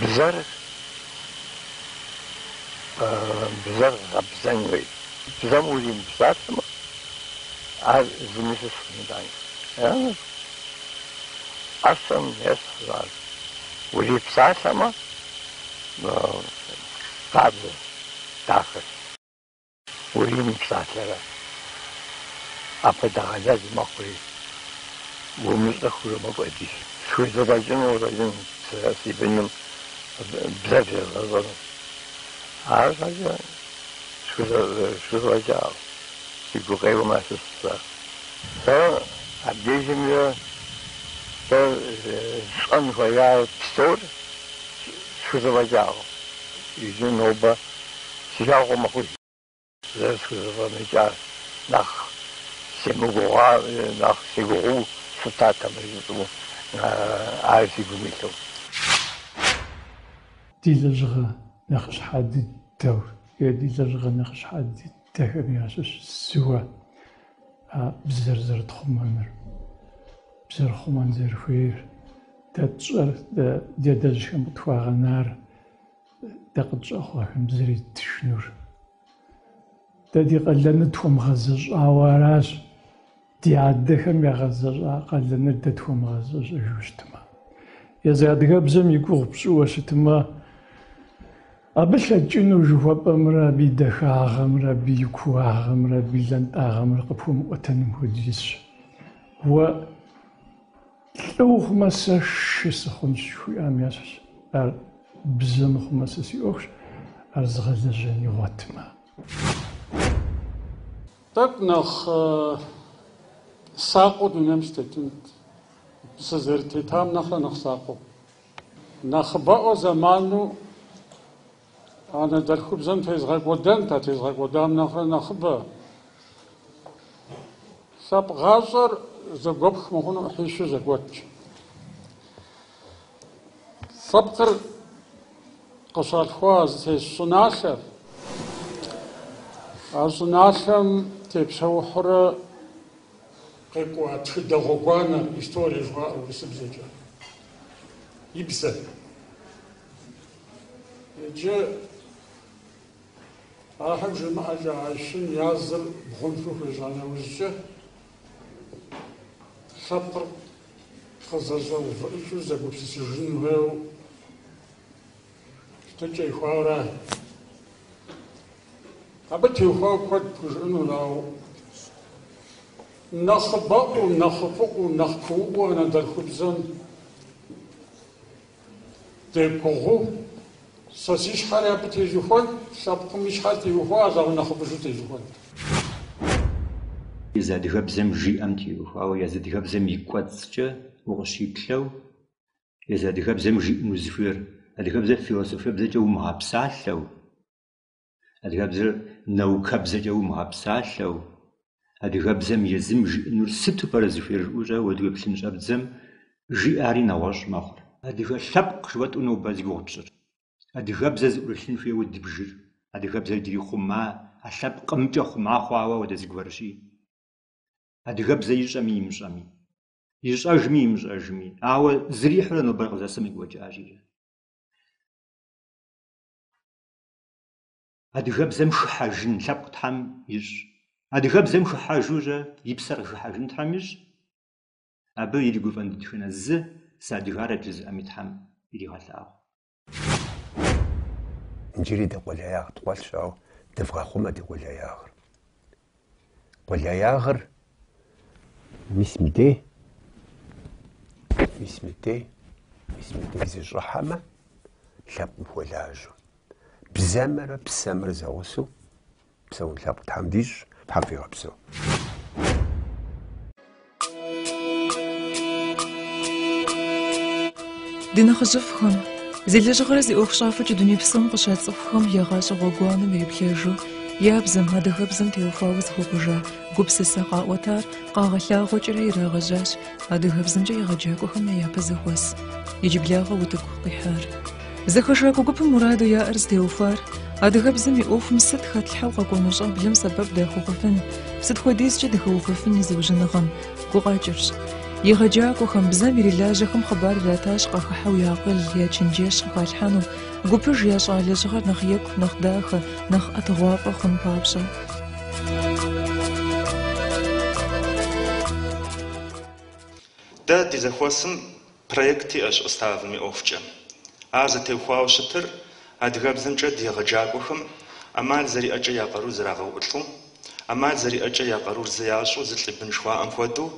Бзэр бзэр гъэбзэн хуей. Бзэм уримыпсалъэмэ, ар зыми щыщ, мыдэ ӏэщэм ещхь ар. Урипсалъэмэ, къабзэщ, дахэщ. Уримыпсалъэрэ? Апхуэдэ гъэлэз мэхъури, умыщӏэххэурэ мэкӏуэд. Схузэфӏэкӏыну къыщӏэкӏынт сэ си быным бзэр зезгъэщӏэну. Арщхьэкӏэ схузэфӏэкӏакъым, си гукъеуэм ящыщ зыщ ар. Сэ абдежымрэ сэ сщӏэн хуея псор схузэфӏэкӏакъым. Иджы нобэ си жагъуэ мэхъу зэрысхузэфӏэмыкӏар, нэхъ семыгугъуа, нэхъ сегугъуу щытатэмэ жысӏэу, ар си гум илъу. Ди лэжьыгъэ нэхъыщхьэ дыдэу е ди лэжьыгъэ нэхъыщхьэ дыдэхэм ящыщ зыуэ а бзэр зэрытхъумэныр, бзэр хъумэн зэрыхуейр, дэ тщӏэр, дэ ди адэжьхэм къытхуагъэнар. Дэ къытщӏэхъуэхэм бзэр еттыжынур. Дэ ди къалэныр тхуэмыгъэзэщӏауэ аращ. Ди адэхэм ягъэзэщӏа къалэныр дэ тхуэмыгъэзэщӏэжу щытмэ. Езы адыгэбзэм и гугъу пщӏыуэ щытмэ, абы лъэкӏыну жыхуэпӏэмрэ абы и дахагъэмрэ абы и кууагъэмрэ абы и лантӏагъэмрэ къыпхуэмыӏуэтэнум хуэдизщ. Уэ Лӏы ухъумэ, сэ шы сыхъунщ, жыхуиӏам ящыщ ар, бзэ мыхъумэ, сэ си ӏуэхущ, ар зыгъэлэжьэн игъуэтмэ. Тӏэкӏу нэхъ сакъыу дунейм сытетынт, сызэрытетам нэхърэ нэхъ сакъыу. Нэхъыбэӏуэ зэману Анэдэлъхубзэм тезгъэкӏуэдэнт, а тезгъэкӏуэдам нэхърэ нэхъыбэ. Лъэпкъ гъащӏэр зэгуэпх мыхъуну ӏыхьищу зэгуэтщ. Лъэпкъыр къыщалъхуа зытес щӏыналъэр, а щӏыналъэм тепсэухьурэ къикӏуа тхыдэ гъуэгуанэр, историе жыхуаӏэ урысыбзэкӏэ, и бзэр. Иджы ар Тхьэм жимыӏэкӏэ а щым я зыр бгъунлъэу хуежьа нэужькӏэ, лъэпкъыр къызэщӏэувыӏыкӏыу зэгупсысыжын хуейуэ щытыкӏэ ихуауэрэ. Абы теухуауэ куэд пхужыӏэнущ, ауэ нэхъыбэӏуэу, нэхъыфӏыӏуэу, нэхъ куууӏуэу анэдэлъхубзэм Дегугъуу, сэ си щхьэри абы тежьэхуэн, лъэпкъым и щхьэр теухуа аллагъуи нэхъыбыжу тежьэхуэнт. Езы адыгэбзэм жиӏэм теухуауэ езы адыгэбзэм и кӏуэцӏкӏэ укъыщиплъэу, езы адыгэбзэм жиӏэм узыхуейр адыгэбзэр философебзэкӏэ умыгъэпсалъэу, Адыгэбзэр нэукэбзэкӏэ умыгъэпсалъэу, адыгэбзэм езым жиӏэнур сыту пӏэрэ зыхуейр жыпӏэу щӏэуэ ухэплъэн щӏэбдзэм, жиӏари нэгъуэщӏ мэхъур. Адыгэ лъэпкъ жыхуэтӏэу нобэ зи гугъу тщӏыр. Адыгэбзэ зыӏурылъын хуейуэ дбжыр, адыгэбзэр иджыри хъума, а лъэпкъымкӏэ хъума хъуауэ апхуэдэ зыгуэрщи. Адыгэбзэр ищӏэми имыщӏэми. Ищӏэжми имыщӏэжми. Ауэ зэрихьэурэ нобэр къызэсым къекӏуэкӏащ иджы. Адыгэбзэм хыхьэжын лъэпкъ Тхьэм ищӏ. Адыгэбзэм хыхьэжурэ и псэр къыхыхьэжын Тхьэм ищӏ. Абы иригуфӏэн дэтхэнэ зы сыадыгарэт жызыӏэми Тхьэм иригъэлъагъу. Иджыри ди къулеягъ ткъуэлъщ, ауэ дывгъэхъумэ ди къулеягъыр. Къулеягъыр мис мыдей, мис мыдей, мис мыдей зыщӏыхьэмэ, лъэпкъым хуэлажьэу. Бзэмрэ псэмрэ зэгъусэу псэун лъэпкъ Тхьэм дищӏ, Тхьэм фигъэпсэу. Ди нэхъыжьыфӏхэм, зи лэжьыгъэрэ зи ӏуэхущӏафэкӏэ дуней псом къыщацӏыхухэм я гъащӏэ гъуэгуанэм ириплъэжу, я бзэм, адыгэбзэм теухуауэ зыхуэкӏуэжа гупсысэ къаӏуэтар къагъэлъагъуэкӏэрэ ирагъэжьащ адыгэбзэмкӏэ егъэджакӏуэхэм я япэ зэхуэс иджыблагъэ утыку къихьар. Зэхэшакӏуэ гупым мураду яӏэр зытеухуар адыгэбзэм и ӏуэхум сыт хэтлъхьэу къэкӏуэну щӏэблэм сэбэп дахуэхъуфын, сыт хуэдизкӏэ дыхэувэфын и зыужьыныгъэм гукъэкӏырщ. Егъэджакӏуэхэм, бзэм ирилажьэхэм хъыбар иратащ къахыхьэу я акъыл, я чэнджэщ къыхалъхьэну, гупыж ящӏа лэжьыгъэр нэхъ екӏу, нэхъ дахэ, нэхъ ӏэтыгъуафӏэ хъун папщӏэ. Дэ ди зэхуэсым Проект иӏэщ уставым и ӏуэхукӏэ. Ар зэтеухуауэ щытыр адыгэбзэмкӏэ ди егъэджакӏуэхэм ӏэмал зэриӏэкӏэ я къарур зэрагъэуӏулӏу, ӏэмал зэриӏэкӏэ я къарур зы ящӏу зылӏ и бын жыхуаӏэм хуэдэу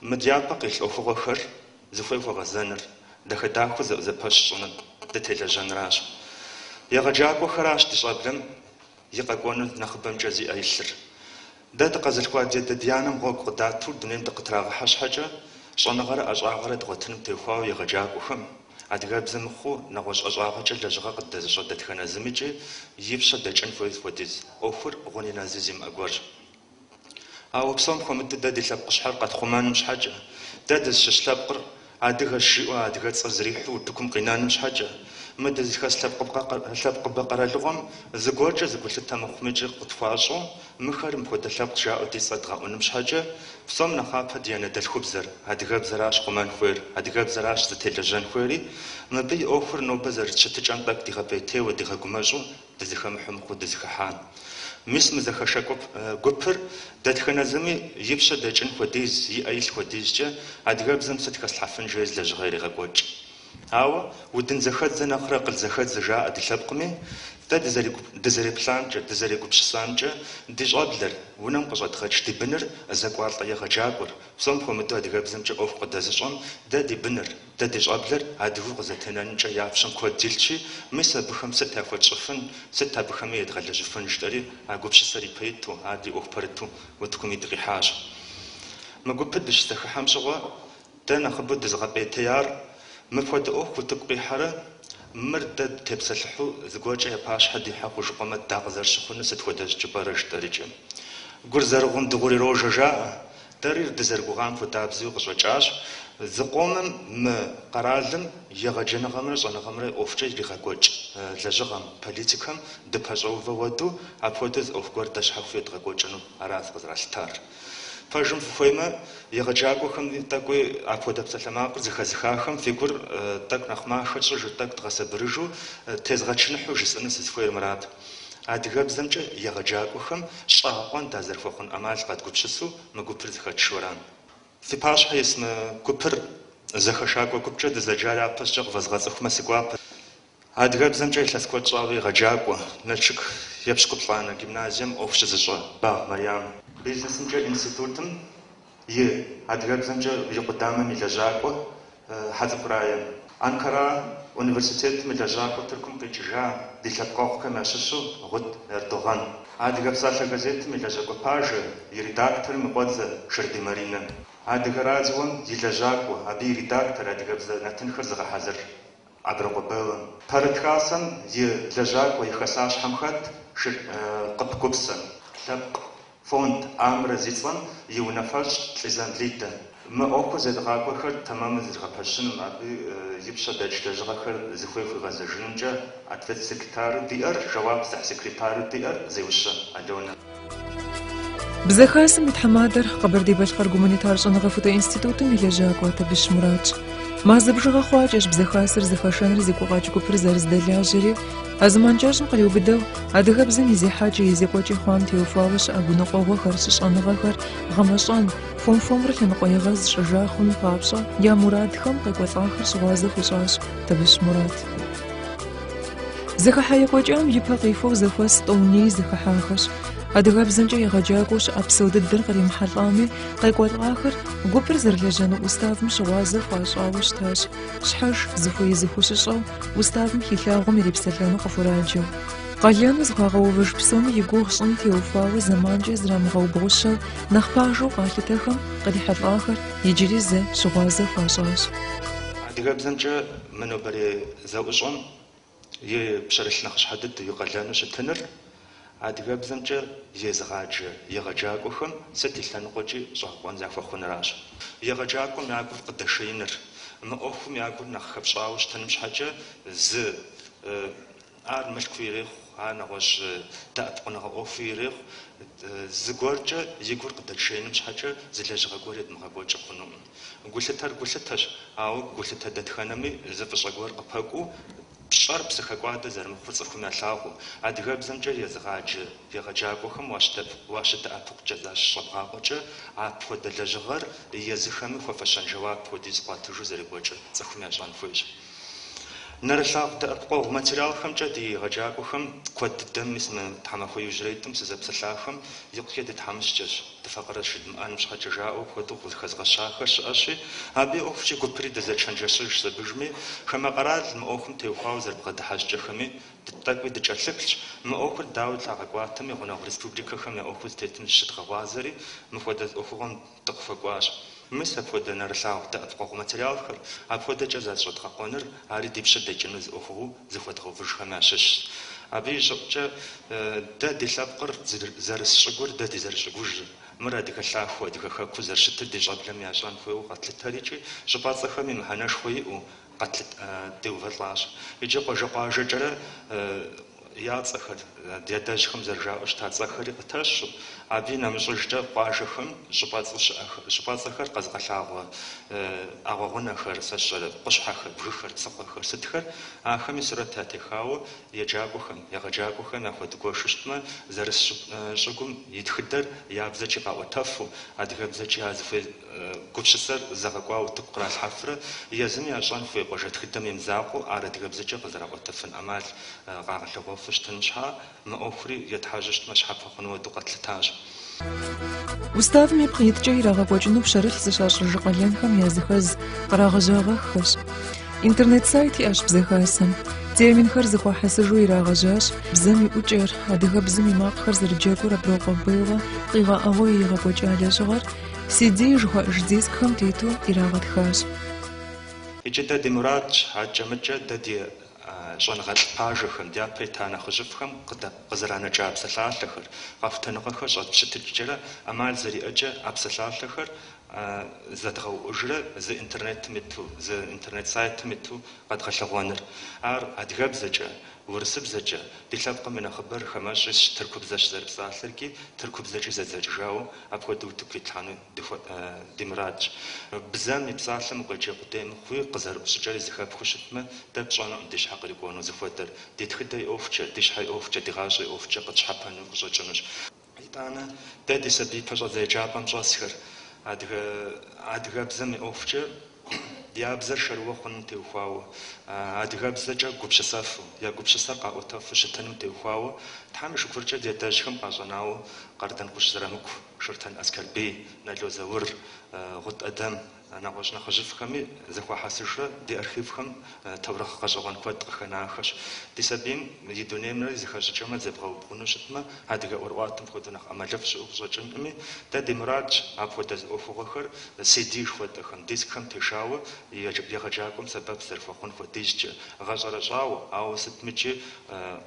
мы дяпэ къилъ ӏуэхугъуэхэр зыхуей хуэгъэзэныр, дахэ-дахэу зэӏузэпэщ щӏыныр, дытелэжьэнращ. Егъэджакӏуэхэращ ди щӏэблэм и къэкӏуэнур нэхъыбэмкӏэ зиӏэ илъыр. Дэ дыкъэзылъхуа ди адэ ди анэм гъуэгу къыдату дунейм дыкъытрагъэхьэ щхьэкӏэ, щӏэныгъэрэ ӏэщӏагъэрэ дгъуэтыным теухуауэ егъэджакӏуэхэм, адыгэбзэ мыхъуу, нэгъуэщӏ ӏэщӏагъэкӏэ лэжьыгъэ къыддэзыщӏэ дэтхэнэ зымыкӏи и пщэ дэкӏын хуейр хуэдиз ӏуэхур гъуни нэзи зимыӏэ гуэрщ. Ауэ псом хуэмыдэу дэ ди лъэпкъ щхьэр къэтхъумэным щхьэкӏэ, дэ дызыщыщ лъэпкъыр Адыгэ жиӏэу адыгэ цӏэр зэрихьэу утыкум къинэным щхьэкӏэ, мы дызыхэс лъэпкъыбэ къэралыгъуэм зыгуэркӏэ зы гулъытэ мыхъумикӏи къытхуащӏу, мыхэр мыпхуэдэ лъэпкъ жаӏэу ди цӏэ дгъэӏуным щхьэкӏэ, псом нэхъапэ ди анэдэлъхубзэр, адыгэбзэращ хъумэн хуейр, адыгэбзэращ зытелэжьэн хуейри, мыбы и ӏуэхур нобэ зэрыт щытыкӏэм тӏэкӏу дигъэпӏейтейуэ, дигъэгумэщӏу Дызэхэмыхьэу мыхъуу дызэхыхьа. Мис мы зэхэшакӏуэ гупыр дэтхэнэ зыми и пщэ дэкӏын хуэдиз, и ӏэ илъ хуэдизкӏэ адыгэбзэм сыт хэслъхьэфын жери лэжьыгъэ ирегъэкӏуэкӏ. Ауэ удын зэхэдзэ нэхърэ акъыл зэхэдзэ жаӏэ ди лъэпкъми, дэ дызэреплъамкӏэ, дызэрегупсысамкӏэ, ди щӏэблэр, унэм къыщӏэдгъэкӏ ди быныр, зэкӏуалӏэ егъэджакӏуэр, псом хуэмыдэу адыгэбзэмкӏэ ӏуэху къыдэзыщӏэм, дэ ди быныр, Дэ ди щӏэблэр адыгэу къызэтенэнкӏэ я пщэм куэд илъщи, мис абыхэм сыт яхуэтщӏыфын, сыт абыхэми едгъэлэжьыфын жытӏэри а гупсысэр ипэ иту, ар ди ӏуэху пэрыту утыкуми дыкъихьащ. Мы гупыр дыщызэхыхьэм щыгъуэ, дэ нэхъыбэу дызыгъэпӏейтеяр мыпхуэдэ ӏуэху утыку къихьэрэ, мыр дэ дытепсэлъыхьу зыгуэркӏэ я пащхьэ дихьэ хъужыкъуэмэ дакъызэрыщыхъунур сыт хуэдэ щӏыкӏэ пӏэрэ жытӏэрыкӏи. Гур зэрыгъум дыгъур ирожэ жаӏэ. Дэри дызэрыгугъам хуэдабзэу къыщӏэкӏащ, зыкъомым мы къэралым егъэджэныгъэмрэ щӏэныгъэмрэ ӏуэхукӏэ иригъэкӏуэкӏ лэжьыгъэм, политикэм дыпэщӏэувэ хуэдэу, апхуэдэу зы ӏуэху гуэр дэ щхьэхуэу едгъэкӏуэкӏыну арат къызэралъытар. Пэжым фыхуеймэ, егъэджакӏуэхэми тӏэкӏуи апхуэдэ псалъэмакъыр зыхэзыхахэм фи гур тӏэкӏу нэхъ махэ тщӏыжу, тӏэкӏу дгъэсабырыжу, тезгъэчыныхьу жысӏэну сызыхуейр мырат. Адыгэбзэмкӏэ егъэджакӏуэхэм щӏэгъэкъуэн дазэрыхуэхъун ӏэмал къэдгупсысу мы гупыр зэхэтшэу ара. Фи пащхьэ ис мы гупыр зэхэшакӏуэ гупкӏэ дызэджар япэщӏкӏэ къывэзгъэцӏыхумэ си гуапэ. Адыгэбзэмкӏэ илъэс куэд щӏауэ егъэджакӏуэ, Налшык епщыкӏуплӏанэ гимназием ӏуэху щызыщӏэ Багъ Марьям. Бизнесымкӏэ институтым и адыгэбзэмкӏэ и къудамэм и лэжьакӏуэ Хьэцӏыкӏу Рае. Анкара университетым и лэжьакӏуэ Тыркум къикӏыжа ди лъэпкъэгъухэм ящыщу Гъут Эрдогъан. Адыгэ псалъэ газетым и лэжьакӏуэ пажэ и редакторым и къуэдзэ Ширдий Маринэ. Адыгэ радиом и лэжьакӏуэ, абы и редактор, адыгэбзэ нэтынхэр зыгъэхьэзыр. Аброкъуэ Беллэ, Пэрыт хасэм и лэжьакӏуэ и хэсащхьэм хэт Къып Гупсэ, лъэпкъ фонд Амрэ зи цӏэм и унафэщӏ Лӏизам Лидэ. Мы ӏуэху зедгъакӏуэхэр тэмэму зэдгъэпэщыным, абы и пщэ дэкӏ лэжьыгъэхэр зыхуей хуигъэзэжынымкӏэ ответ-секретару диӏэр, жэуап зыхь секретару диӏэр Зеущэ Алёнэ. Бзэ Хасэм и тхьэмадэр Къэбэрдей-Балъкъэр гуманитар щӏэныгъэхутэ институтым и лэжьакӏуэ Табыщ Муратщ. Мазэ бжыгъэ хъуакӏэщ Бзэ Хасэр зэхэшэныр зи гукъэкӏ гупыр зэрызэдэлажьэри, а зэман кӏэщӏым къриубыдэу, адыгэбзэм и зехьэкӏэ, и зекӏуэкӏи хъуам теухуауэ щыӏэ гуныкъуэгъуэхэр, щыщӏэныгъэхэр гъэмэщӏэн, хуэм-хуэмурэ лъэныкъуэегъэз щӏыжа хъуным папщӏэ, я мурадхэм, къекӏуэлӏахэр щыгъуазэ хуищӏащ Табыщ Мурат. Зэхыхьэ екӏуэкӏам и пэ къихуэу зэхуэс тӏэуней зэхыхьахэщ. Адыгэбзэмкӏэ егъэджакӏуэу щыӏэ псо дыдэр къримыхьэлӏами, къекӏуэлӏахэр гупыр зэрылэжьэну уставым щыгъуазэ хуащӏауэ щытащ. Щхьэж зыхуей зыхущыщӏэу, уставым хилъагъум ирипсэлъэну къыхураджэу. Къалэну зыхуагъэувэж псоми и гугъу щӏын теухуауэ зэманкӏэ зрамыгъэубгъущэу, нэхъ пажэу къалъытэхэм кърихьэлӏахэр иджыри зэ щыгъуазэ хуащӏащ. Адыгэбзэмкӏэ мы нобэрей зэӏущӏэм и пщэрылъ нэхъыщхьэ дыдэу и къалэну щытыныр адыгэбзэмкӏэ езыгъаджэ егъэджакӏуэхэм сыт и лъэныкъуэкӏи щӏэгъэкъуэн захуэхъунращ. Егъэджакӏуэм я гур къыдэшеиныр, мы ӏуэхум я гур нэхъ хэпщӏауэ щытыным щхьэкӏэ зы ар мылъкуу ирехъу, ар нэгъуэщӏ дэӏэпыкъуныгъэ ӏуэхуу ирехъу, зыгуэркӏэ и гур къыдэтшеиным щхьэкӏэ зы лэжьыгъэ гуэр едмыгъэкӏуэкӏыу хъунукъым. Гулъытэр гулъытэщ, ауэ гулъытэ дэтхэнэми зы фӏыщӏэ гуэр къыпэкӏуэу, пщӏэр псыхэкӏуадэ зэрымыхъур цӏыхум ялъагъуу. Адыгэбзэмкӏэ езыгъаджэ егъэджакӏуэхэм уащыдэӏэпыкъукӏэ защыщӏэбгъакъуэкӏэ, апхуэдэ лэжьыгъэр езыхэми хуэфэщэн жэуап хуэдиз къуатыжу зэрекӏуэкӏыр цӏыхум ящӏэн хуейщ. Нэрылъагъу дэӏэпыкъуэгъу материалхэмкӏэ ди егъэджакӏуэхэм, куэд дыдэм, мис мы тхьэмахуэ иужьрейитӏым сызэпсэлъахэм икъукӏэ дытхьэмыщкӏэщ, дыфакъырэщ жыдмыӏэным щхьэкӏэ жаӏэу куэду къыхэзыгъэщахэр щыӏэщи, абы и ӏуэхукӏи гупри дызэчэнджэщыжщ абдежми, хамэ къэрал мы ӏуэхум теухуауэ зэрыбгъэдыхьэ щӏыкӏэхэми тӏэкӏуи дыкӏэлъыплъщ, мы ӏуэхур дауэ лъагъэкӏуатэми, гъунэгъу республикэхэм я ӏуэхур зытетым зыщыдгъэгъуазэри, мыхуэдэ ӏуэхугъуэм дыкъыхуэкӏуащ. Мис апхуэдэ нэрылъагъу дэӏэпыкъуэгъу материалхэр апхуэдэкӏэ защӏэдгъэкъуэныр ари ди пщэ дэкӏыну зы ӏуэхугъуэу зыхуэдгъэувыжхэм ящыщщ. Абы и щӏыӏукӏэ дэ ди лъэпкъыр, зэрыс щӏыгур, дэ ди зэрыщӏыгужыр, мыр адыгэ лъахуэу, адыгэ хэкуу зэрыщытыр ди щӏэблэм ящӏэн хуейуэ къэтлъытэрикӏи, щӏыпӏэцӏэхэми мыхьэнэшхуэ иӏэу, къэтлъытэу деувэлӏащ икӏи къуажэ-къуажэкӏэрэ я цӏэхэр, ди адэжьхэм зэрыжаӏэу щыта цӏэхэри къытэщу, абы и нэмыщӏыжкӏэ къуажэхэм щӏыпӏэцӏэхэр къэзыгъэлъагъуэ ӏэгъуэгъунэхэр, сэ сщӏэрэ, къущхьэхэр, бгыхэр, псыхъуэхэр сытхэр, ахэми сурэт ятехауэ еджакӏуэхэм, егъэджакӏуэхэм яхуэдгуэшу щытмэ, зэрыс щӏыгум и тхыдэр я бзэкӏи къаӏуэтэфу, адыгэбзэкӏи ар зыхуей Гупсысэр зэгъэкӏуауэ утыку къралъхьэфрэ езым ящӏэн хуей къуажэ тхыдэм и мызакъуэу ар адыгэбзэкӏэ къызэраӏуэтэфын ӏэмал къагъэлъэгъуэфу щытын щхьа, мы ӏуэхури етхьэжьэу щытмэ щхьэпэ хъуну хуэдэу къэтлъытащ. Уставым ипкъ иткӏэ ирагъэкӏуэкӏыну пщэрылъ зыщащӏыж къалэнхэм языхэз кърагъэжьагъэххэщ. Интернет-сайт иӏэщ Бзэ Хасэм. Терминхэр зыхуахьэсыжу ирагъэжьащ бзэм и ӏукӏэр, адыгэбзэм и макъхэр зэрыджэгур Аброкъуэ Беллэ къигъэӏэгъуэу иригъэкӏуэкӏа лэжьыгъэр, CD жыхуаӏэж дискхэм тету ирагъэтхащ. Иджы дэ ди мурадщ акӏэ-мыкӏэ дэ ди щӏэныгъэлӏ пажэхэм, дяпэ ита нэхъыжьыфӏхэм къызэранэкӏа псалъалъэхэр, къэхутэныгъэхэр щӏэтпщытыкӏкӏэрэ ӏэмал зэриӏэкӏэ а псалъалъэхэр зэдгъэуӏужрэ зы интернетым иту, зы интернет сайтым иту къэдгъэлъэгъуэныр. Ар адыгэбзэкӏэ, урысыбзэкӏэ, ди лъэпкъым и нэхъыбэр хамэщӏ исщ, тыркубзэщ зэрыпсалъэркӏи, тыркубзэкӏи зэдзэкӏыжауэ, Апхуэдэу утыку итлъхьэну ди мурадщ. Бзэм и псалъэм укъеджэ къудей мыхъуи, къызэрыӏу щӏыкӏэри зэхэпхыу щытмэ, дэ тщӏэнукъым ди щхьэ кърикӏуэну зыхуэдэр. Ди тхыдэ и ӏуэхукӏэ, ди щхьэ и ӏуэхукӏэ, ди гъащӏэ и ӏуэхукӏэ къытщхьэпэну къыщӏэкӏынущ. Итӏанэ, дэ ди сабий пэщӏэдзэ еджапӏэм щӏэсхэр, адыгэ, адыгэбзэм и ӏуэхукӏэ Я бзэр шэрыуэ хъуным теухуауэ, адыгэбзэкӏэ гупсысэфу, я гупсысэр къаӏуэтэфу щытыным теухуауэ Тхьэм и шыкуркӏэ ди адэжьхэм къащӏэнауэ Къардэнгъущӏ Зырамыку, Шортэн Аскэрбий, Нало Заур, Гъут Ӏэдэм, нэгъуэщӏ нэхъыжьыфӏхэми зэхуахьэсыжрэ ди архивхэм Таурыхъ гъэщӏэгъуэн куэд къыхэнахэщ. Ди сабийм и дунеймрэ зэхэщӏыкӏэмрэ зебгъэубгъуну щытмэ, адыгэ ӏуэрыӏуатэм хуэдэу нэхъ ӏэмалыфӏ щыӏэу къыщӏэкӏынкъыми, дэ ди мурадщ апхуэдэ ӏуэхугъуэхэр CD жыхуэтӏэхэм, дискхэм тешауэ егъэджакӏуэм сэбэп зэрыхуэхъун хуэдизкӏэ, гъэщӏэрэщӏауэ, ауэ сытми икӏи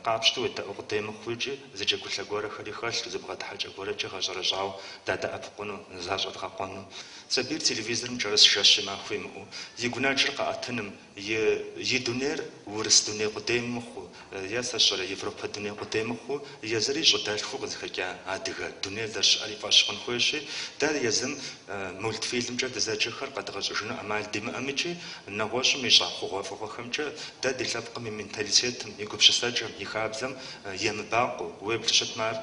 къапщтэу уедэӏу къудей мыхъуу икӏи зы джэгулъэ гуэрэхэри хэлъу зы бгъэдыхьэкӏэ гуэрэкӏи гъэщӏэрэщӏауэ дадэӏэпыкъуну, защӏэдгъэкъуэну. Сабийр телевизорым кӏэрыс жэщи махуи имыӏэу, и гунэджыр къаӏэтыным, и дунейр урыс дуней къудей мыхъуу, е сэ сщӏэрэ, европэ дуней къудей мыхъуу, езыри щӏыдэлъхуу къызыхэкӏа адыгэ дунейр зэрыщыӏэр и фӏэщ хъун хуейщи, дэ езым мультфильмкӏэ дызэджэхэр къэдгъэщӏыжыну ӏэмал димыӏэмикӏи нэгъуэщӏым ищӏа хъугъуэфӏыгъуэхэмкӏэ дэ ди лъэпкъым и менталитетым, и гупсысэкӏэм, и хабзэм емыбакъуэу, уеблу щытмэ ар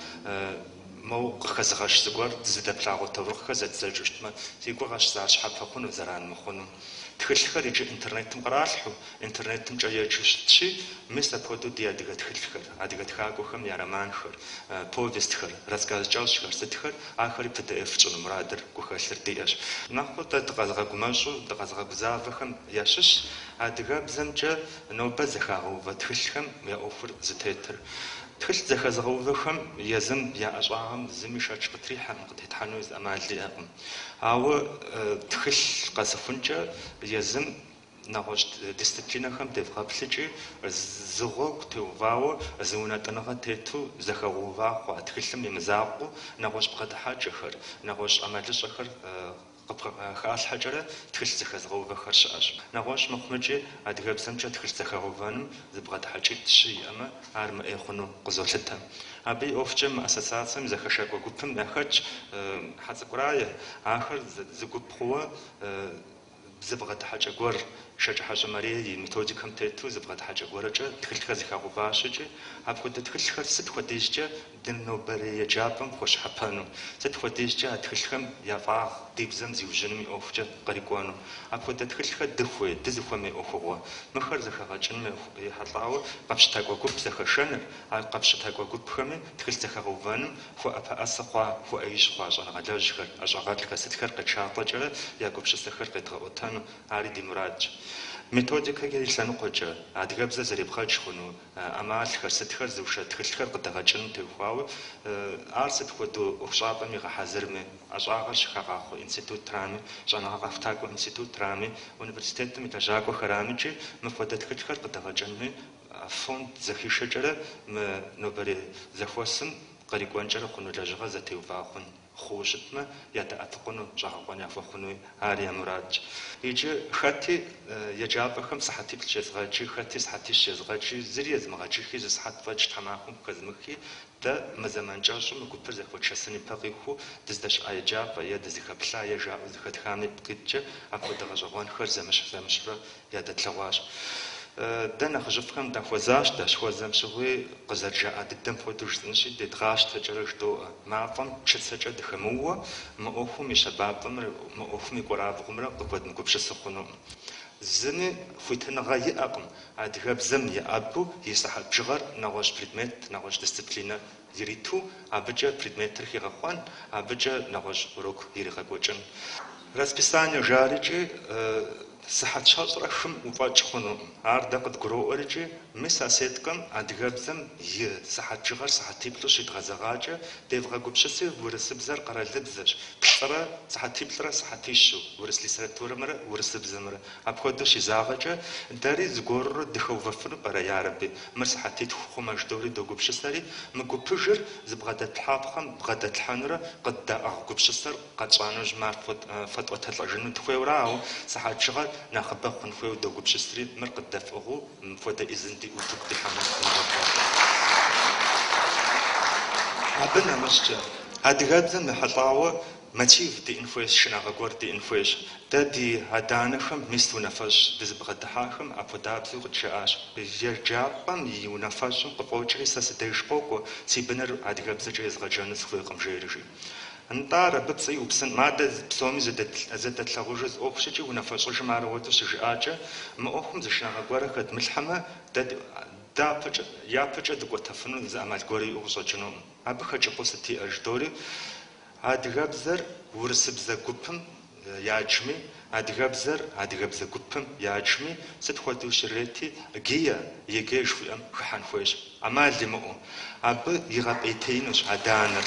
Моу къыхэзыгъэщ зыгуэр дызыдэплъагъуэ таурыхъхэр зэддзэкӏыу щытмэ, си гугъэщ ар щхьэпэ хъуну, зэран мыхъуну. Тхылъхэр иджы интернетым къралъхьэу, интернетымкӏэ еджэу щытщи, мис апхуэдэу ди адыгэ тхылъхэр, адыгэ тхакӏуэхэм я романхэр, повестхэр, рассказ кӏэщӏхэр сытхэр, ахэри pdf тщӏыну мурадыр, гухэлъыр диӏэщ. Нэхъыбэу дэ дыкъэзыгъэгумэщӏу, дыкъэзыгъэгузавэхэм ящыщщ адыгэбзэмкӏэ нобэ зэхагъэувэ тхылъхэм я ӏуэхур зытетыр. Тхылъ зэхэзыгъэувэхэм езым я ӏэщӏагъэм зыми шэч къытрихьэркъым, къытетхьэну ӏэмал иӏэкъым. Ауэ тхылъ къэсыхункӏэ езым нэгъуэщӏ дисциплинэхэм девгъэплъыкӏи, зы гъуэгу теувауэ, зы унэтӏыныгъэ тету зэхэгъэува хъуа тхылъым и мызакъуэу, нэгъуэщӏ бгъэдыхьэкӏэхэр, нэгъуэщӏ ӏэмалыщӏэхэр Къыхалъхьэкӏэрэ тхылъ зэхэзыгъэувэхэр щыӏэщ. Нэгъуэщӏ мыхъумикӏи, адыгэбзэмкӏэ тхылъ зэхэгъэувэным зы бгъэдыхьэкӏитӏ-щы иӏэмэ, ар мыӏей хъуну къызолъытэ. Абы и ӏуэхукӏэ мы ассоциацэм зэхэшакӏуэ гупым яхэтщ, Хьэцӏыкӏу Рае, ахэр зы гуп хъууэ, зы бгъэдыхьэкӏэ гуэр, Шэкӏыхьэщӏэ Марие и методикэм тету зы бгъэдыхьэкӏэ гуэрэкӏэ тхылъхэр зэхагъэуващ икӏи апхуэдэ тхылъхэр сыт хуэдизкӏэ Ди нобэрей еджапӏэм хуэщхьэпэну, сыт хуэдизкӏэ а тхылъхэм я фӏагъ ди бзэм зиужьыным и ӏуэхукӏэ кърикӏуэну. Апхуэдэ тхылъхэр дыхуей, дызыхуэмей ӏуэхугъуэ. Мыхэр зэхэгъэкӏыным ехьэлӏауэ къэпщытакӏуэ гуп зэхэшэныр, а къэпщытакӏуэ гупхэми тхылъ зэхэгъэувэным хуэӏэпэӏэсэ хъуа, хуэӏэижь хъуа щӏэныгъэлэжьхэр, ӏэщӏагъэлӏхэр, сытхэр къетшалӏэкӏэрэ я гупсысэхэр къедгъэӏуэтэну, ари ди мурадщ. Методикэ и лъэныкъуэкӏэ, адыгэбзэр зэребгъэдж хъуну, ӏэмалхэр, сытхэр зыушэ тхылъхэр къыдэгъэкӏыным теухуауэ, ар сыт хуэдэ ӏуэхущӏапӏэм игъэхьэзырми, ӏэщӏагъэр щыхагъахъуэ институтырами, щӏэныгъэ къэхутакӏуэ институтырами, университетым и лэжьакӏуэхэрамикӏи мыпхуэдэ тхылъхэр къыдэгъэкӏыным и фонд зэхишэкӏэрэ мы нобэрей зэхуэсым кърикӏуэнкӏэрэ хъуну лэжьыгъэр зэтеувауэ хъун. хъууэ щытмэ, ядэӏэпыкъуну щӏэгъэкъуэн яхуэхъунуи ар я мурадщ. Иджы хэти еджапӏэхэм сыхьэтиплӏ щезгъэджи, хэти сыхьэтищ щезгъэджи, зыри езымыгъэджыхи, зы сыхьэт фӏэкӏ тхьэмахуэм къыхэзымыхи, дэ мы зэман кӏэщӏым мы гупыр зэхуэтшэсын и пэ къихуэу дыздэщыӏа еджапӏэ е дызыхэплъа е жаӏэу зэхэтхам ипкъ иткӏэ апхуэдэ гъэщӏэгъуэнхэр зэмыщхь-зэмыщхьурэ Ядэтлъэгъуащ. Дэ нэхъыжьыфӏхэм дахуэзащ, дащыхуэзэм щыгъуи, къызэрыжаӏа дыдэм хуэдэу жысӏэнщи, дедгъащтэкӏэрэ жыдоӏэ. Мафӏэм чыцэкӏэ дыхэмыууэ, мы ӏуэхум и щэбапӏэмрэ мы ӏуэхум и кӏуэрабгъумрэ къыхуэдмыгупсысу хъунукъым. Зыми хуитыныгъэ иӏэкъым адыгэбзэм еӏэбу и сыхьэт бжыгъэр нэгъуэщӏ предмет, нэгъуэщӏ дисциплинэ ириту абыкӏэ предметыр хигъэхъуэн, абыкӏэ нэгъуэщӏ урок иригъэкӏуэкӏын. Расписание жарикӏи, сыхьэт щэщӏрэ хым уфӏэкӏ хъунукъым. Ар дэ къыдгуроӏуэркӏи, мис а сеткэм адыгэбзэм и сыхьэт бжыгъэр сыхьэтиплӏу щидгъэзэгъакӏэ, девгъэгупсыси урысыбзэр къэралыбзэщ, плӏырэ сыхьэтиплӏрэ сыхьэтищу, урыс литературэмрэ урысыбзэмрэ. Апхуэдэу щизагъэкӏэ, дэри зыгуэрурэ дыхэувэфыну пӏэрэ, ярэби? Мыр сыхьэтитху хъумэ, жыдоӏэри догупсысэри, мы гупыжыр зыбгъэдэтлъхьапхъэм бгъэдэтлъхьэнурэ къыддаӏыгъ гупсысэр къэтщӏа нэужьым, ар фэтӏуэтэлӏэжыну дыхуейуэрэ, ауэ сыхьэт бжыгъэр нэхъыбэ хъун хуейуэ догупсысри, мыр къыддэфӏыгъыу мыпхуэдэ ӏизын диӏэу утыку дихьэмэ. Абы нэмыщӏкӏэ, адыгэбзэм ехьэлӏауэ, Мотив диӏэн хуейщ, шынагъэ гуэр диӏэн хуейщ. Дэ ди адэ-анэхэм мист унафэщӏ дызыбгъэдыхьахэм апхуэдабзэу къыджаӏащ. Еджапӏэм и унафэщӏым къыфӏокӏри сэ си деж къокӏуэ, си быныр адыгэбзэкӏэ езгъэджэну сыхуейкъым, жери, жи. Нтӏэ ар абы пцӏы иупсынкъым. А дэ псоми зэдэтлъагъужыр зы ӏуэхущ икӏи, унафэщӏыжым ар апхуэдэу щыжиӏакӏэ, мы ӏуэхум зы шынагъэ гуэрэ хэдмылъхьэмэ, дэ дяпэкӏэ, япэкӏэ дыкӏуэтэфыну зы ӏэмал гуэрэ иӏэу къыщӏэкӏынукъым. Абы хэкӏыпӏэу сыт иӏэр? жыдоӏэри. Адыгэбзэр урысыбзэ гупым яджми, адыгэбзэр адыгэбзэ гупым яджми, сыт хуэдэу щрети, ГИА, ЕГЭ жыхуиӏэм хыхьэн хуейщ, ӏэмал имыӏэу. Абы игъэпӏейтеинущ адэ-анэр.